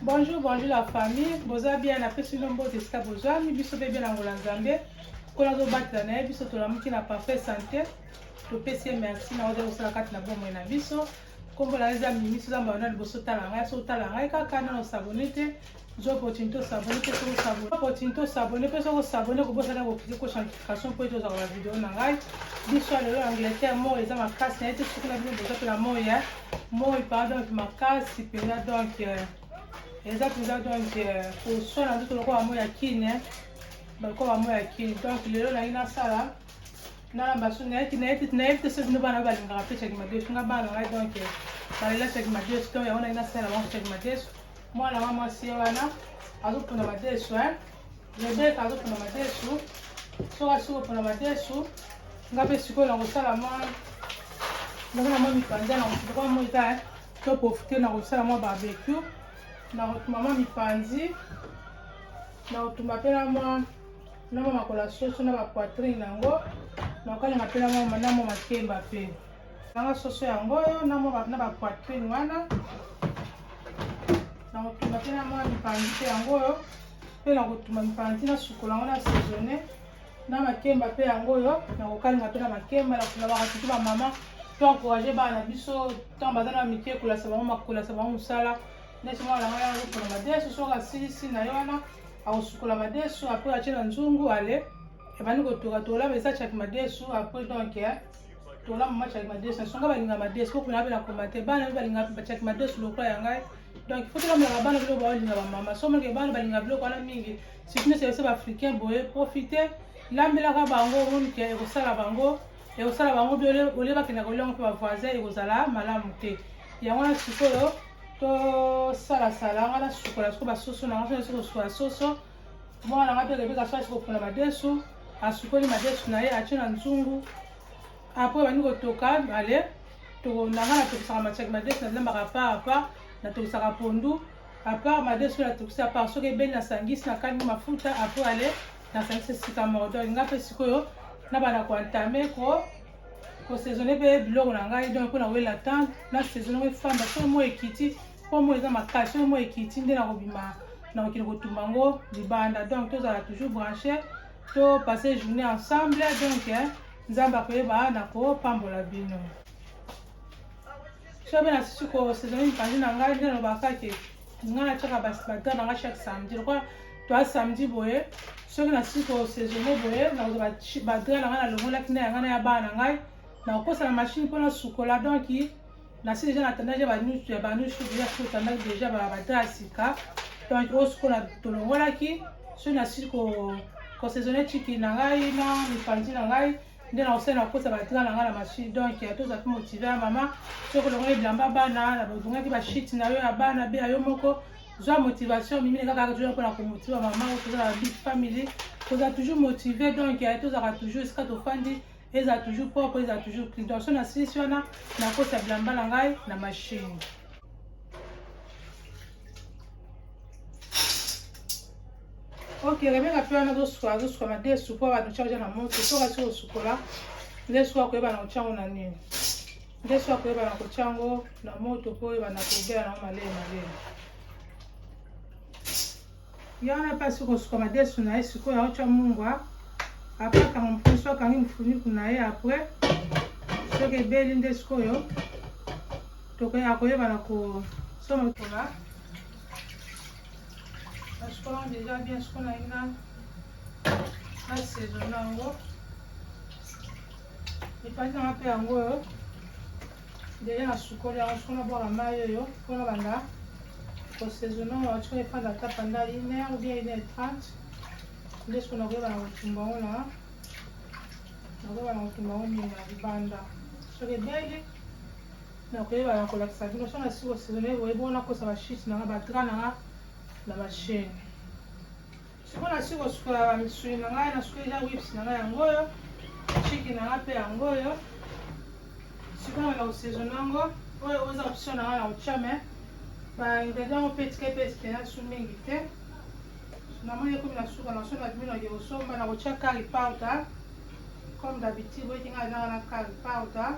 bonjour bonjour la famille boza bien napesi bino mbote esika bozwami biso mpe bien na ngola nzambe nkolo azobatela na ye biso tolamuki na parfait santé topesi ye merci na oza kosala kati na bomoi na biso nkombo na yo eza mimi soza mayo na liboso otala ngai so otala ngai kaka na osabone te zwa opportunité osabone mpe soki osabone opportunité osabone mpe soki osabone kobosana kokiki kosa notification mpo ete ozala na video na ngai biso ya lelo angleterre moi eza makasi na ye te soki na bino boza mpe na moi ya moi par donc makasi mpenza donc euh, eza mpenza donc euh, koswana nzoto lokola moi ya kine bakoba moi ya kine donc lelo nangi nasala na basu nayebi nayebi nayebi te soki bino bana oyo balingaka mpe caki madesu nga bana ngai donc balela caki madesu to yango naki nasala bango caki madesu mwana wa mwasi ye wana azopona madesu e rebeka azopona madesu soki asi kopona madesu nga mpe sikoyo nakosala mwa nakona mwa mipanza nakoa moi ta to profite nakosala mwa barbecue nakotuma mwa mipanzi nakotumba mpe na mwa na mwa makolo ya soso na bapoitrine yango nakokalinga mpe na mwa makemba mpe nanga soso yango oyo na bapoitrine wana nakotuma mpe na mwa mipanzi mpe yango oyo mpe nakotuma mipanzi na sukola yango na saisonne na makemba mpe yango oyo nakokalinga mpe na makemba nakolabaka tutu bamama to encourage bana na biso ntango baza na mike kolasa bango makolasa bango mosala neti mwana na ngai yango mpona madesu soki asilisi na ye wana akosukola madesu apres atye na nzungu ale ebandi kotoka tola eza chaki madesu apres donc eh, tola mama chaki madesu nasonga balinga madesu po kuna bela komate bana bi balinga bachaki madesu lokola ya ngai donc faut tolamulaka bana biloko baolinga bamama somoke bana balinga biloko wana mingi surtout neti yose baafricain boye profite lambelaka bango omoni ke ekosala bango ekosala bango bi olie bakenda koliango mpe bavoisin ekozala malamu te yango wana sikoyo tosalasala nga nasukola soko basoso na nga so nasi kosukola soso mwana na nga mpe rebeka so asi kopona madesu asukoli madesu na ye atye na nzungu apres bandi kotoka ale nanga natokisaka matiaki madesu nazilambaka apart apart natokisaka pondu apart madesu oyo natokisi apart soki ebeli nasangisi nakangi mafuta apres ale nasangisi esika moko donc nga mpe sikoyo nabana koentame ko ko saisonner pe biloko na ngai donc pona wela temps na saisonner ko fanda so mo ekiti po mo eza makasi so mo ekiti nde na kobima na kokende kotumba yango libanda donc tozala toujours branche to passe journée ensemble donc nzambe akoyeba na kopambola bino soki mpe nasusu kosezone mipanzi na ngai nde nalobaka ke ngai natyaka badra na ngai chaque samedi lokola toa samedi boye soki nasusu kosezone boye nakozwa badra na ngai nalongolaki nde ya ngai na ya bana na ngai nakokosa na mashine mpo nasukola donk nasi deja natandaki ya banusu deja soki otandaki deja badra ya sika donk osukola tolongolaki soki nasusu kosezone chiki na ngai na mipanzi na ngai nde na kosala na kosa batika na ngai na machine donc ya tozala mpe motive ya mama soki olongoli bilamba bana na bozongaki bashite na yo ya bana be ya yo moko zwa motivation mimi na kaka toujours mpona komotiva mama tozala big family tozala toujours motive donc ya tozalaka toujours esika tofandi ezala toujours propre ezala toujours clean donc so na silisi wana nakosa bilamba na ngai na machine Ok, Rebecca pe wana azosuka azosuka na de sukola bato charge na moto soki asi kosukola nde soki akoyeba na kotya yango na nini nde soki akoyeba na kotya yango na moto mpo oyeba na kobela na yango malele malele ye wana mpe asi kosuka madesu na ye sikoyo aotya mungwa apre akanga mofusu akangi mofuniku na ye apre soki ebeli nde sikoyo tokoya koyeba na kosoma kola nasukola yango deja bien sukola yango na nasaison na yango epati nanga mpe yango oyo deja nasukoli yango soko nabwaka mai oyo mpo nabanda kosaison na yango atiko efanda ata panda une heure bien une heure trente nde soko nakoyeba na kotumba yango na nakoyeba na kotumba yango nini na libanda soki ebeli nakoyeba na kolakisa bino so nasi kosezone boye bongo nakosa bashite nanga badra nanga na bashene siko nasi kosukola bamisuni na ngai nasuki deja wips na ngai yango oyo chiki na ngai mpe yango oyo sikoyo na kosezone yango oyo oza option na ngai na kotya me baingredient yango mpe etika mpe esperance mingi te namoni ekomi na suka na so na bino nake kosomba na kotya kari powder comme d'habitude boyeki ngai nanga na kari powder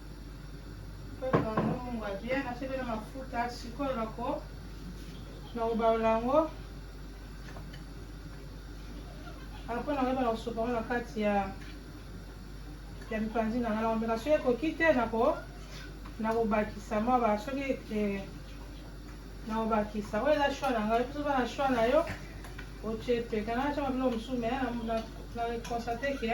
apres nakoyeba na kosopa ngo na kati ya ya mipanzi na ngai nakomeka soki ekoki te nakobakisa mwa ba soki eh, nakobakisa oyo eza shwa na ngai soki na shwa na yo otie peka natyama biloko mosusu me na constate ke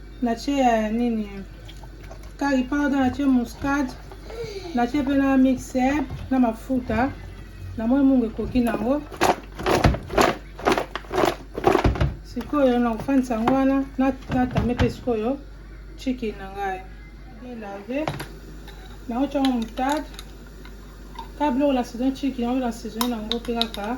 Na ce ya nini curry powder, na ce muscade, na ce pe na mixer na mafuta. Na moi mungu ekoki nango. Sikoyo na kofandisa yango wana na tame pe sikoyo chicken na ngai bien lave naotya yango moutarde kaka biloko na saison chicken yango na saison yango mpe kaka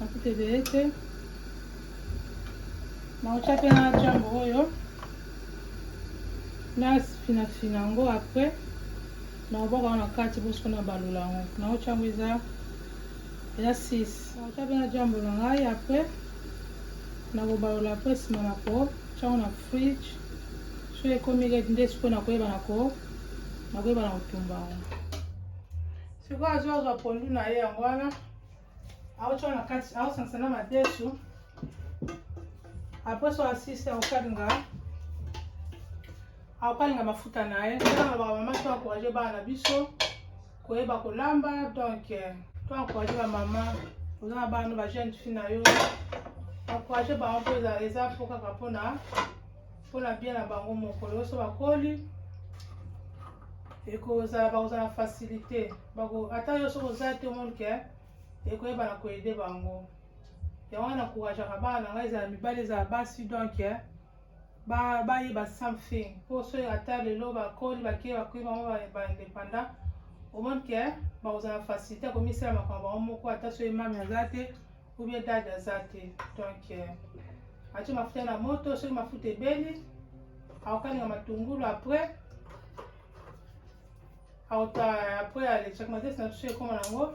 mafuta ebele te nakotya mpe na jambo oyo nafinafina yango apres nakobwaka yango na kati boso nabalula yango nakotya yango eza eza 6 nakotya mpe na jambo na ngai apres nakobalola mpe nsima na kotyango na fridge so ekomi lete nde sikoyo nakoyeba na koyeba na kotumba yango sikoyo azo azwa pondu na ye yango wana aotya na kati aosangisa na madesu apres so asisi akokalinga akokalinga mafuta na ye tolanga bamama to encourage bana na biso koyeba kolamba donc eh, to encourage bamama oza na bana ba jeune fille na yo encourage bango mpo eza mpo kaka mpona mpona bien na bango moko lelo so bakoli ekozala bakozala facilité bako ata yo soki oza te omoni ke ekoyeba na koyede bango yango wana kourageaka bana na ngai ezala mibali ezala basi donk bayeba something mpo soki ata lelo bakoli bakei bakoi bango baindépendant omoni ke bakozala facilité akomisala makambo bango moko ata soki mami aza te ou bien dade aza te donc euh, atie mafuta na moto soki mafuta ebeli akokalinga matungulu après auta après alekisaka matesi na biso ekoma nango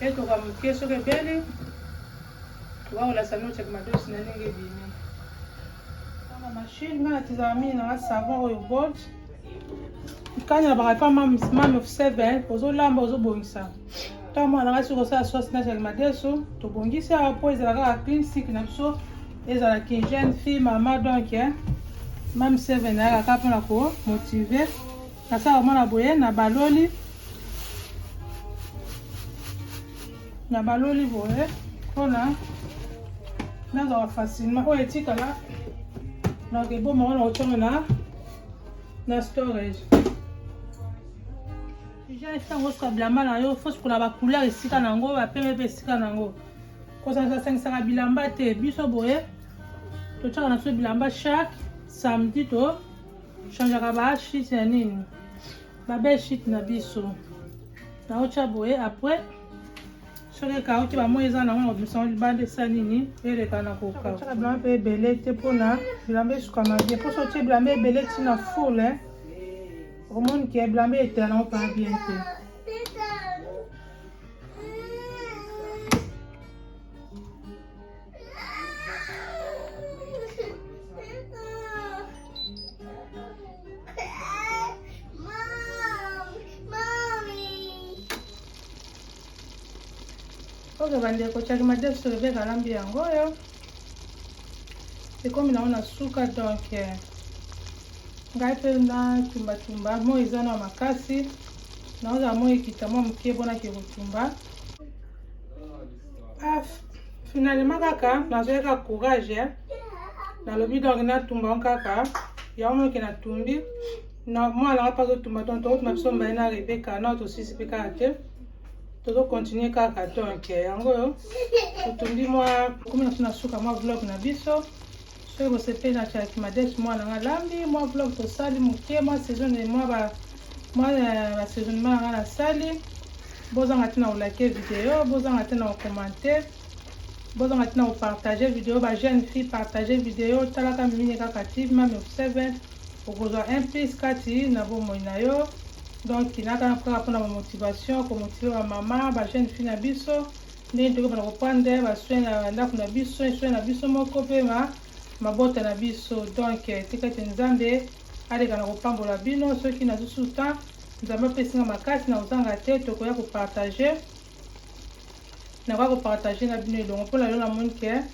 etoka moke soki ebeli wakolasa noce kimadosi na ndenge ebimi na mashine nga natizaka mingi nanga savon oyo gold kani nabaka epa mame of seven ozolamba ozobongisa ntango mwana nanga soki kosala sauce na jali madesu tobongisi awa mpo ezala kaka clean sik na biso ezala kigene fille mama donc mame seven ayaka kaka mpona komotive Nasala komona boye na baloli na baloli boye mpona nazala facilement oyo etikala donc eboma wana kotyama na na storage deja esango osuka bilamba na yo fosukola bacouleur esika na yango bapeme mpe esika na yango kosangisangisaka bilamba te biso boye totyaka na biso bilamba chaque samedi to Changeaka ba sheet ya nini? Ba belle sheet na biso. Na ocha boye après soki ekauki bamoi eza nango na kobimisa yango libanda esa nini eleka na kokauka bilamba mpe ebele te mpona bilamba esukama bien mposo otie bilamba ebele ntina fule eh. omoni ke bilamba etela nango mpa bien te oke bandeko caki madesu rebeka alambi yango oyo ekomi nango na suka donk eh, ngai mpe natumbatumba moi eza na makasi naozala moi ekita mwa moke mpo nake kotumba Ah, finalement kaka nazwaki kaka courage eh. nalobi donc natumba on kaka yango moke natumbi na mwana nga mpe azotumba donc tokotuma biso mbaye na rebeka na tosisi mpe kaka te tozokontinue kaka donc yango oyo totumbi mwa komi na biso na suka mwa vlog na biso Soki bosepeli na Charity Madec mwa na nga lambi mwa vlog tosali moke mwa saison mwa ba mwa euh, ba saisonnement na nga nasali bozanga te na kolake video bozanga te na kokomante bozanga te na kopartage video ba jeune fille partage video talaka mimine kaka ti mame 7 okozwa un plus kati na bomoi na yo donc nakana kaka mpona bamotivation komotive bamama ba jeune fille na biso ndenge tokoki bana koprendre basoin na ndako na biso esoin na biso moko mpe ma mabota na biso donk tika ete nzambe aleka na kopambola bino soki nazusu temps nzambe apesi nga makasi na kozanga te tokoya kopartage nakoya kopartage na bino elongo mpo na lelo namoni ke